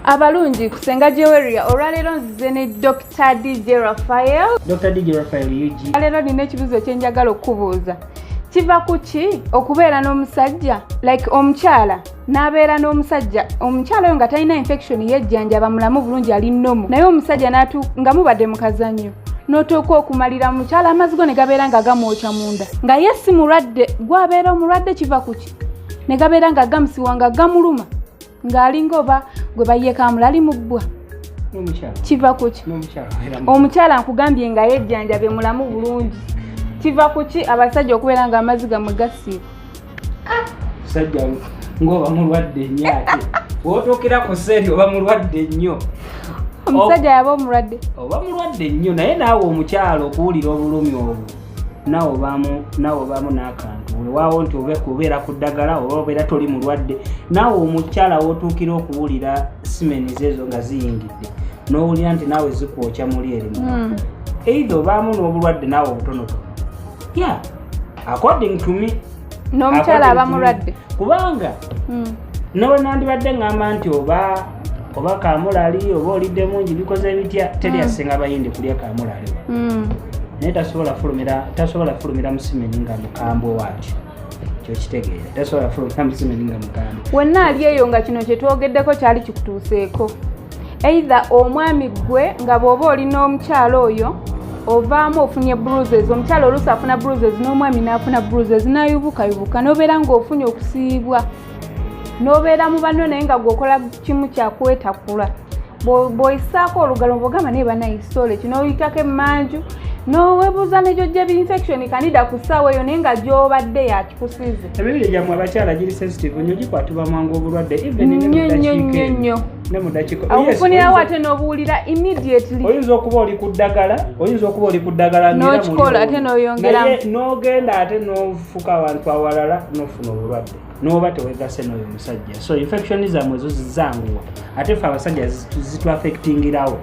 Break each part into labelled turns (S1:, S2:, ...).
S1: abalungi kusenga jeweria olwaleero nzize ne dr dj rafael dr dj
S2: rafael ug leero nina ekibuzo
S1: ekyenjagala okukubuuza kiva ku ki okubeera n'omusajja like omukyala n'abeera n'omusajja omukyala oyo nga talina infection yejjanjaba mulamu bulungi ali nomu naye omusajja nga mubadde mukazanyo notuuka okumalira mukyala amazzi go ne gabeera nga gamwokya munda nga ye si mulwadde gwabeera omulwadde kiva kuki ne gabeera nga gamusiwa nga gamuluma ng'alinga oba gwe bayekamula ali mubbwa kiva kuki omukyala nkugambye nga yejjanjabe mulamu bulungi kiva kuki abasajja okubeera nga amazzi gamwe gasiiba
S2: sajja ngaoba mulwadde nnyo ate wotuukira ku seeri oba mulwadde nnyo omusajja
S1: yaba omulwadde oba mulwadde
S2: nnyo naye naawe omukyalo okuwulira obulumi obwo nawe obaamu nawe obaamu n'akantu wewaawo nti obe kubeera ku ddagala oba obeera toli mulwadde naawe omukyala wotuukira okuwulira simeni zeezo nga ziyingidde n'owulira nti naawe zikwokya muli erimu hmm. eitha obaamu n'obulwadde naawe obutonotono ya according to me n'omukyala aba
S1: mulwadde kubanga
S2: hmm. nawe nandibadde ngamba nti oba oba kamulali oba olidde mungi bikoze bitya teri asinga mm. bayindi kulya kamulali mm. naye tasobola fulumira tasobola fulumira musimeni nga mukambwe waati kyokitegeera tasobola fulumira musimeni nga mukambwe wenna ali eyo nga
S1: kino kyetwogeddeko kyali kikutuuseeko either omwami gwe nga bwoba oli n'omukyalo oyo ovaamu ofunye bruises omukyalo oluusi afuna bruises n'omwami n'afuna bruises nayubukayubuka nobeera ng'ofunye okusiibwa n'obeera mu banno naye nga gweokola kimu kyakuwetakula bwoyisaako olugalo bwogamba naye banaye sole kino oyitako emmanju nowebuuza negyojja binfection kanida ku ssaawa eyo naye nga gyobadde yakikusize emibiri gyammwe abakyala
S2: giri sensitive nyo gikwatibwa mwangu obulwadde evennyonyonyonyo
S1: akufunirawo ate nobuwulira immediately oyinza okuba oli ku
S2: ddagala oyinza okuba oli ku ddagala nokikola ate
S1: noyongeramu nogenda ate
S2: fuka awantu awalala nofuna obulwadde noba tewegase noyo musajja so infection zamwe ezo zizanguwa ate fe abasajja zitwafectingirawo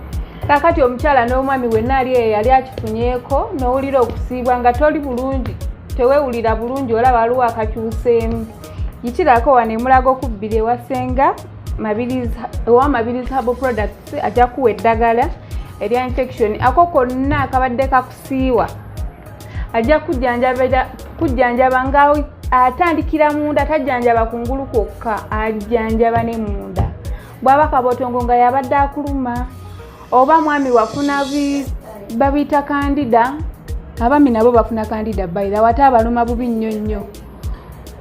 S2: kakati
S1: omukyala n'omwami wenna ali eyo yali akifunyeko nowulira okusiibwa nga toli bulungi tewewulira bulungi olaba waliwo akakyuseemu yitirako wano emulaga okubbira ewasenga owa mabiriz habo products ajja kuwa eddagala erya infection ako konna akabadde kakusiiwa ajja kujjanjaba nga atandikira munda tajjanjaba ku ngulu kwokka ajjanjaba ne munda bwaba kabotongo nga yabadde akuluma oba mwami wafuna babiyita kandida abami nabo bafuna kandida bayira wate abaluma bubi nnyo nnyo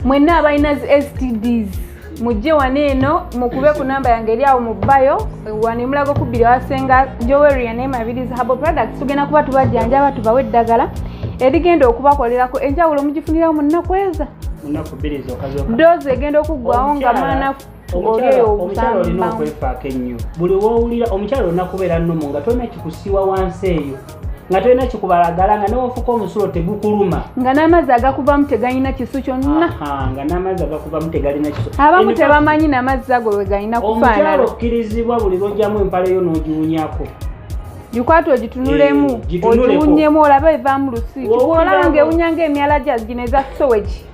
S1: mwenna abalina zi stds mujje wano eno mukube ku namba yange eri awo mu bayo wano emulago kubbiri awasenga joweria naye mabirizi habo products tugenda kuba tubajjanjaba tubawe eddagala erigenda okubakolerako enjawulo mugifunirawo mu nnaku eza doozi egenda okuggwawo nga manafu omukyala
S2: olina okwefaako ennyo buli wowulira omukyala olina kubeera nnumu nga tolina kikusiiwa wansi eyo nga tolina kikubalagala nga newofuka omusulo tegukuluma nga n'amazzi
S1: agakuvamu tegalina kisu kyonna nga n'amazzi
S2: agakuvamu tegalina kisu abamu tebamanyi
S1: namazzi ago wegalina kufaanala okkirizibwa
S2: buli lwojjamu empale yo n'ogiwunyako gikwata
S1: ogitunulemu eh, ogiwunyemu olabe evamu lusi olaba nga ewunya nga emyala gya gino eza soweki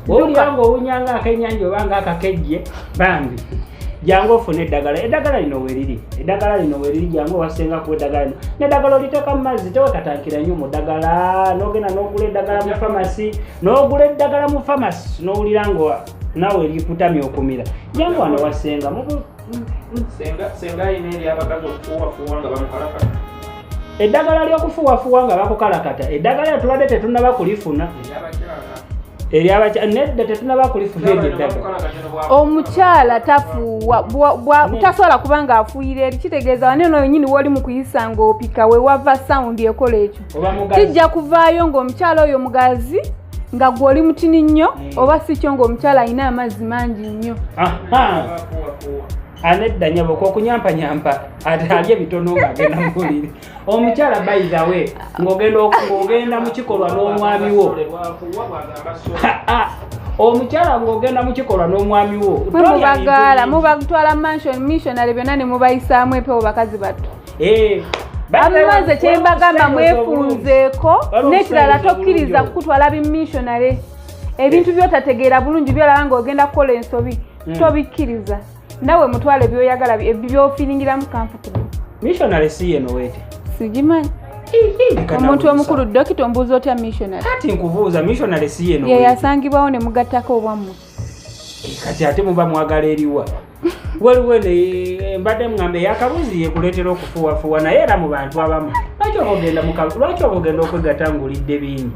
S1: wowulira
S2: nga owunya nga akenyanja oba nga akakejje bambi jangu ofune eddagala eddagala lino weriri eddagala lino weriri jangu owasenga ku eddagala lino neddagala oliteeka mu mazzi tewekatankira nnyo mu ddagala nogenda nogula eddagala mu famasi nogula eddagala mu famasi nowulira nga nawe likutamya okumira jangu wano wasenga senga alina eri abakazi okufuuwafuuwa nga bamukalakala eddagala ly'okufuwafuwa nga bakukalakata eddagala tubadde tetunaba kulifuna nedda tetunaba kulifuna eryo eddagala omukyala
S1: tafuuwa tasobola kuba nga afuuyira eri kitegeeza wane no wenyini woli mu kuyisa nga opika wewava sawundi ekola ekyo kijja kuvaayo ng'omukyala oyo mugazi nga gwe oli mutini nnyo hmm. oba si kyo ng'omukyala alina amazzi mangi nnyo
S2: anedda nyabo kokunyampanyampa alye bitono ngagenda mubuliri omukyala baizawe ngogenda mukikolwa n'omwami wo omukyala ng'ogenda mukikolwa n'omwami wo mubagaala
S1: mubatwala mansion missionary byonna ne mubayisaamu empewo bakazi battu eh, abimaze kyembagamba mwefunzeeko n'ekirala tokkiriza kukutwala bimmissionary ebintu byotategeera bulungi byolaba ng'ogenda kukola ensobi hmm. tobikkiriza nawe mutwale byoyagala byofilingiramu kamfutire missionary si
S2: yeno wete sigimanyi
S1: omuntu omukulu dokita ombuuza otya missionary kati nkubuuza missionary
S2: si yeno yeyasangibwawo ne
S1: mugattako obwammwe eh, kati
S2: ate muba mwagala eriwa waliwo eno eh, mbadde mugambe yakabuzi yekuleetera okufuwafuwa naye era mu bantu abamu lwaki oba ogenda okwegatta ngaolidde bingi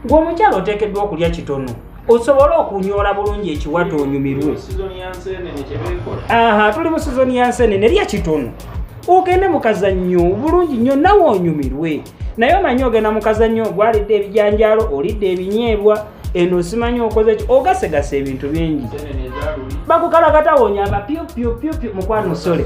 S2: gwe omukyalo oteekeddwa okulya kitono osobole okunyoola bulungi ekiwata onyumirwe aha tuli mu sizoni ya nsenene lya kitono ogende mukazannyo bulungi nnyo nawe onyumirwe naye omanyi ogenda mukazannyo gwalidde ebijanjaalo olidde ebinyeebwa eno osimanyi okoze ki ogasegasa ebintu bingi bakukalakatawonya abapiopiopiopio mukwano sole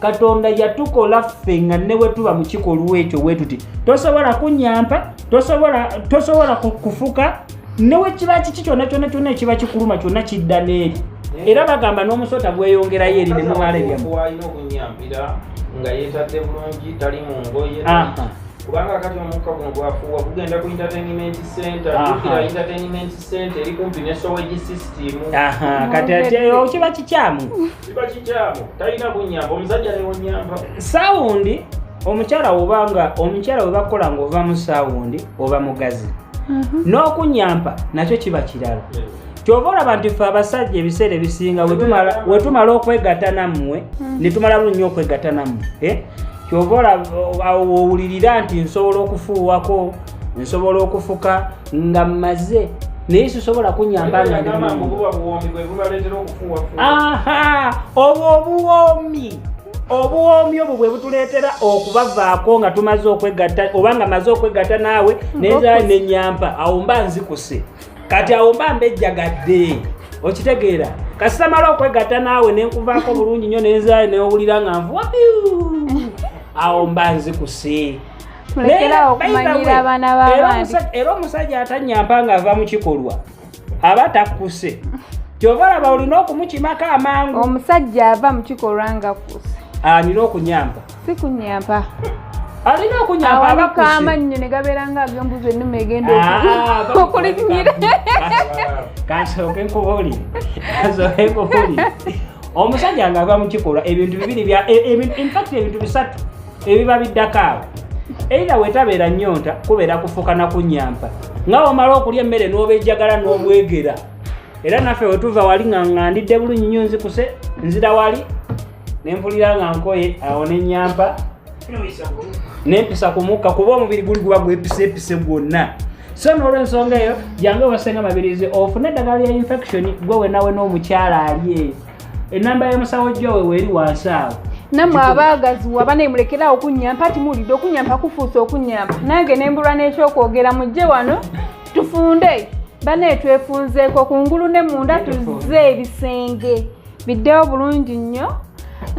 S2: katonda yatukola ffe nga ne bwe tuba mu kikolwa ekyo bwe tuti tosobola kunyampa tosobola kufuka ne bwe kiba kiki kyonna kyonna kyonna ekiba kikuluma kyonna kidda n'eri era bagamba n'omusota gweyongerayo eri ne mumala ebyamwalina okunyampira
S3: nga yeetadde bulungi tali mu ngoye kubanga kati omukka guno gwafuuwa gugenda ku entertainment center ukira entertainment center eri kumpi ne sowegi system kati ati
S2: eh, kiba kikyamu kiba
S3: kikyamu talina kunyamba omusajja newonyamba sawundi
S2: omukyala wobanga omukyala webakukola nga ova mu sawundi oba mugazi mhm. n'okunyampa nakyo kiba kirala kyova olaba nti fe abasajja ebiseera ebisinga wetumala okwegata nammwe mhm. netumala lunnyo okwegata nammwe eh? kyova olaba owulirira nti nsobola okufuuwako nsobola okufuka nga mmaze naye sisobola kunyamba nga obwo obuwoomi obuwoomi obwo bwe butuleetera okubavaako nga tumaze okwegatta oba nga maze okwegatta naawe neza nenyampa awo mba nzikuse kati awo mba mbejjagadde okitegeera kasitamala okwegatta naawe nenkuvaako bulungi nnyo nenzaayo newulira nga nvuwa awo mba nzikuse mulekerawo
S1: okumanyira abaana b'abandi era omusajja
S2: atanyamba nga ava mu kikolwa aba takkuse kyova laba olina okumukimako amangu omusajja ava mu
S1: kikolwa nga kuse alina okunyamba
S2: si kunyamba
S1: alina
S2: okunyamba abakuse amannyo ne gabeera
S1: nga agembuza ennuma egenda ah, okulinyira
S2: kansooke nkubuli kansooke nkubuli omusajja nga ava mu kikolwa ebintu bibiri bya e, e, infact ebintu bisatu ebiba biddako awo eira wetabeera nyonta kubeera kufuka na kunyampa nga womala okulya emmere n'obejjagala n'obwegera era naffe wetuva wali nga ngandidde bulungi nyo nzikuse nzira wali nempulira nga nkoye awo nenyampa nempisa ku mukka kuba omubiri guli guba gwepisepise gwonna so n'olwensonga eyo jange wasenga mabirizi ofune eddagala lya infection gwe wenawe n'omukyala ali eyo enamba ya musawo jowe weri wansi awo namwe abaagazi
S1: waba naye mulekeraawo okunyampa ati muwulidde okunyampa kufuusa okunyampa nange ne mbulwa n'ekyokwogera mujje wano tufunde banaye twefunzeeko ku ngulu ne munda tuzze ebisenge biddewo bulungi nnyo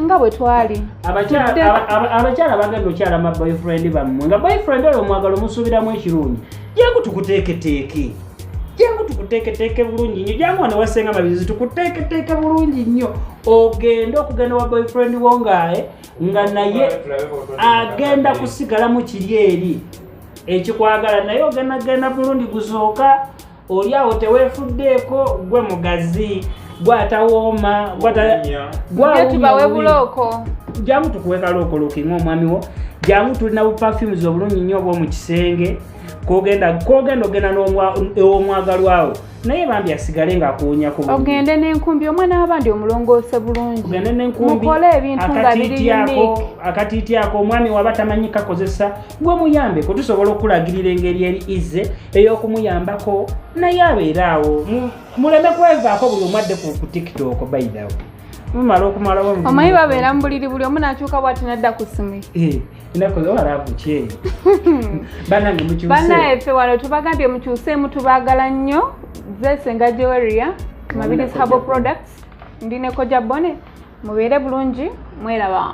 S1: nga bwe twali
S2: abakyala bagenda okyala ma boyfriend bammwe nga boyfriend oyo omwagala omusuubiramu ekirungi yekutukuteeketeeke jangu tukuteeketeeke bulungi nnyo jangu wano wasenga mabizi tukuteeketeeke bulungi nnyo ogende okugenda wa boyfriend wo ngae eh, nga naye agenda kusigala mu kiri eri ekikwagala naye ogenda genda bulungi guzooka oli awo teweefuddeeko gwe mugazi gwatawooma
S1: gwatubawe bulooko jangu tukuwe
S2: kalookolokinga omwami wo jangu tulina bu perfumes obulungi nnyo obwomu kisenge kogenda kogenda ogenda n'omwagalwawo naye bambi asigale ng'akuwunya ku ogende n'enkumbi omwana
S1: w'abandi omulongoose bulungi ogende n'enkumbimukole
S2: ebintu nga
S1: biri akatiityako omwami
S2: waba tamanyi kakozesa gwe muyambeko tusobola okulagirira engeri eri izze ey'okumuyambako naye abeere awo muleme kwevaako buli omwadde ku tiktok bayidawo mumala okumalawo omanyi babeera mu buliri
S1: buli omu n'akyuka bwati nadda ku simu eh.
S2: banaye fe wano
S1: tubagambye mukyuseemu tubagala nnyo zesenga joeria mabirizi habo products ndi nekoja bone mubeere bulungi mweraba